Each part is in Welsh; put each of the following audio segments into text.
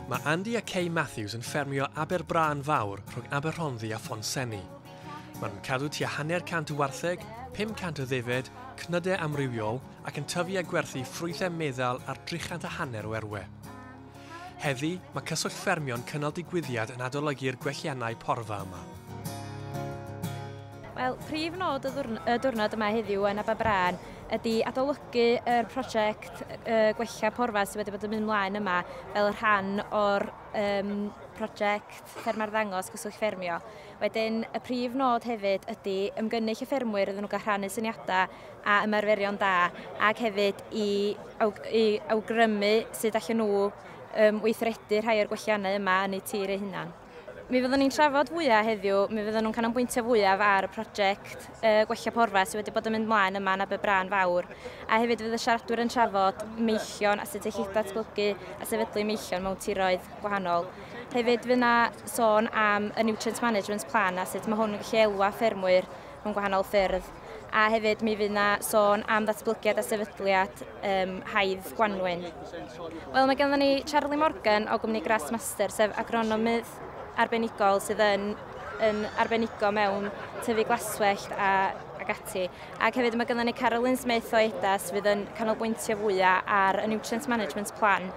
Mae Andy a Kay Matthews yn ffermio Aber Brân Fawr rhwng Aberhonddu a Phonsenni. Maen nhw'n cadw tua hanner cant o wartheg, 500 o ddefaid, cnydau amrywiol ac yn tyfu a gwerthu ffrwythau meddal ar drichant a hanner o erwe. Heddi, mae Cyswllt Ffermio'n cynnal digwyddiad yn adolygu'r gwelliannau porfa yma. Wel, prif nod y, ddwrn y diwrnod yma heddiw yn Aberbrân ydy adolygu yr prosiect y, gwella porfa sydd wedi bod yn mynd mlaen yma fel rhan o'r um, prosiect Fferma'r Ddangos Cyswllt Ffermio. Wedyn, y prif nod hefyd ydy ymgynnull y ffermwyr iddyn nhw gael rhannu syniadau a ymarferion da ac hefyd i awg- i awgrymu sut allan nhw um, weithredu rhai o'r gwelliannau yma yn eu tir eu hunan. Mi fyddwn ni'n trafod fwyaf heddiw, mi fyddwn nhw'n canolbwyntio fwyaf ar y prosiect uh, gwella porfa sydd wedi bod yn mynd mlaen yma yn Aberbrân Fawr, a hefyd fydd y siaradwyr yn trafod meillion a sut eich datblygu a sefydlu meillion mewn tiroedd gwahanol. Hefyd fydd yna sôn am y Nutrient Management Plan a sut mae hwn yn gallu elwa ffermwyr mewn gwahanol ffyrdd. A hefyd mi fydd yna sôn am ddatblygiad a sefydliad um, haidd Gwanwyn. Wel, mae gennym ni Charlie Morgan o gwmni Grassmaster, sef agronomydd arbenigol sydd yn yn arbenigo mewn tyfu glaswellt a ac ati. Ac hefyd mae gennym ni Carolyn Smith o EDAS fydd yn canolbwyntio fwyaf ar y Nutrient Management Plan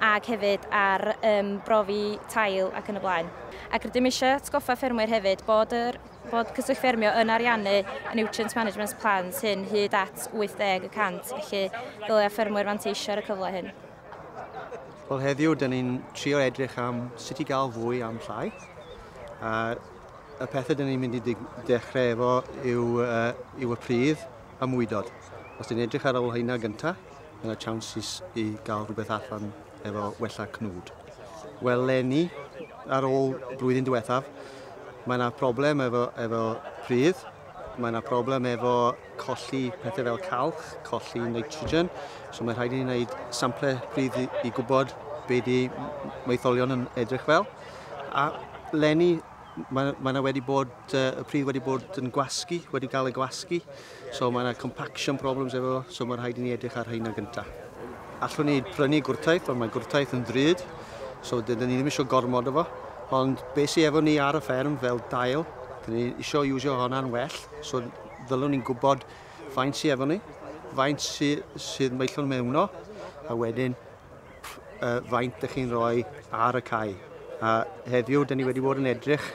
ac hefyd ar um, brofi tail ac yn y blaen. Ac rydym eisiau atgoffa ffermwyr hefyd bod yr Bod Cyswllt Ffermio yn ariannu y Nutrient Management Plans hyn hyd at 80 y cant, felly dylai ffermwyr fanteisio ar y cyfle hyn. Wel heddiw, dyn ni'n trio edrych am sut i gael fwy am llai. A y pethau dyn ni'n mynd i dechrau efo yw, uh, yw y pridd a mwydod. Os dyn ni'n edrych ar ôl hynna gyntaf, ma' 'na chances i ga'l rhywbeth allan efo wella cnwd. Wel leni, ar ôl y blwyddyn diwethaf, mae 'na problem efo efo pridd, mae 'na problem efo colli pethe fel calch, colli nitrogen, so mae rhaid i ni wneud sample pridd i i gwbod be' 'di m- m- maetholion yn edrych fel. A leni ma' ma' 'na wedi bod yy y pridd wedi bod yn gwasgu, wedi ga'l ei gwasgu, So mae yna compaction problems efo, so mae'n rhaid i ni edrych ar hynna gyntaf. Allwn ni prynu gwrtaith, ond mae gwrtaith yn ddrud, so dydyn ni ddim eisiau gormod efo. Ond beth sydd efo ni ar y fferm fel dail, dyn ni eisiau iwsio hwnna'n well, so ddylwn ni'n gwybod faint sydd efo ni, faint sydd, sydd maellon mewno, a wedyn uh, faint ydych chi'n rhoi ar y cae. A heddiw, dyn ni wedi bod yn edrych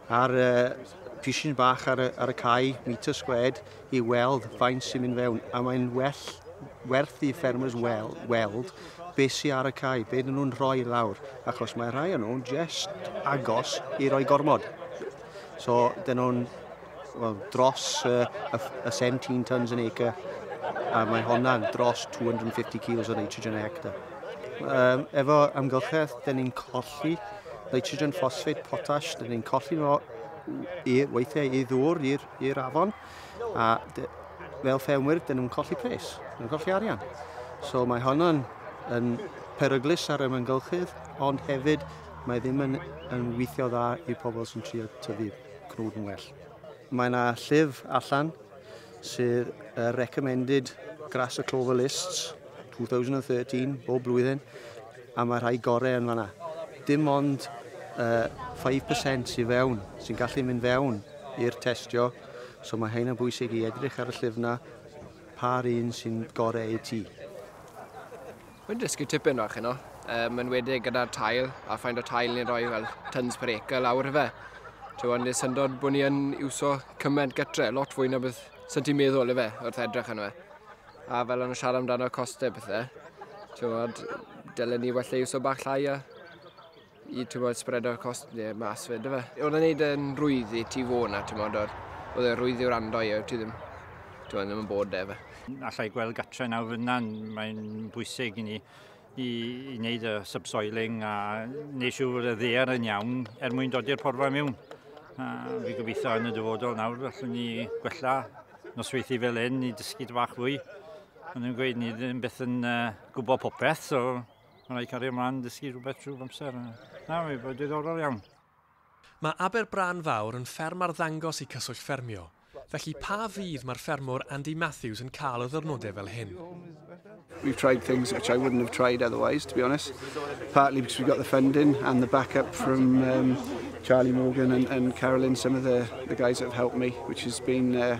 Ar y pishin bach ar y, ar y cae, metre squared, i weld faint sy'n mynd fewn. A mae'n well werth i ffermers wel, weld beth sy'n ar y cae, beth dyn nhw'n rhoi lawr, achos mae rhai o'n nhw'n jest agos i roi gormod. So, dyn nhw'n well, dros uh, y, y 17 tons an acre, a mae honna'n dros 250 kilos o nitrogen a hectare. Um, efo amgylchedd, dyn ni'n colli nitrogen, ffosffeid, potas, dyn ni'n colli nhw i, weithiau i ddŵr i'r afon, a de, fel ffermwyr, dyn nhw'n colli pres, dyn nhw'n colli arian. So mae honno'n yn peryglus ar y myngylchydd, ond hefyd mae ddim yn, yn weithio dda i pobl sy'n trio tyfu cnwd yn well. Mae yna llif allan sydd y recommended grass a clover lists 2013 bob blwyddyn a mae rhai gorau yn fanna. Dim ond uh, 5% sy'n fewn, sy'n gallu mynd fewn i'r testio, so mae hyn yn bwysig i edrych ar y llyfna pa'r un sy'n gorau i ti. Mae'n dysgu tipyn bach yno, um, yn wedig gyda'r tail, a ffaint o tail ni'n rhoi fel tons per acre lawr y fe. Ti'n ond nes syndod bod ni yn iwso cymaint gytre, lot fwy na beth sy'n ti'n meddwl y fe, wrth edrych yn fe. A fel o'n siarad amdano costau bethau, ti'n ond, dylen ni wella iwso bach llai a i tymod sbredo'r cost neu mas fe, dyfe? Oedd e'n neud yn rwydd i ti fod na, tymod, oedd oedd e'n rwydd i wrando i, oedd ti ddim, tymod, ddim yn bod efe. Alla i gweld gatre nawr fyna, mae'n bwysig i ni i, i wneud y subsoiling a wneud siŵr fod y ddear yn iawn er mwyn dodi'r porfa mewn. A fi gobeithio yn y dyfodol nawr allwn ni gwella nosweithi fel hyn i dysgu dy bach fwy. Ond yn gweud ni ddim beth yn uh, gwybod popeth, so Mae'n rhaid cario ymlaen dysgu rhywbeth trwy amser. Na, mae'n bod diddorol iawn. Mae Aber Brân Fawr yn fferm arddangos i Cyswllt Ffermio, felly pa fydd mae'r ffermwr Andy Matthews yn cael o ddyrnodau fel hyn? We've tried things which I wouldn't have tried otherwise, to be honest. Partly because we got the funding and the backup from um, Charlie Morgan and, and Carolyn, some of the, the guys that have helped me, which has been uh,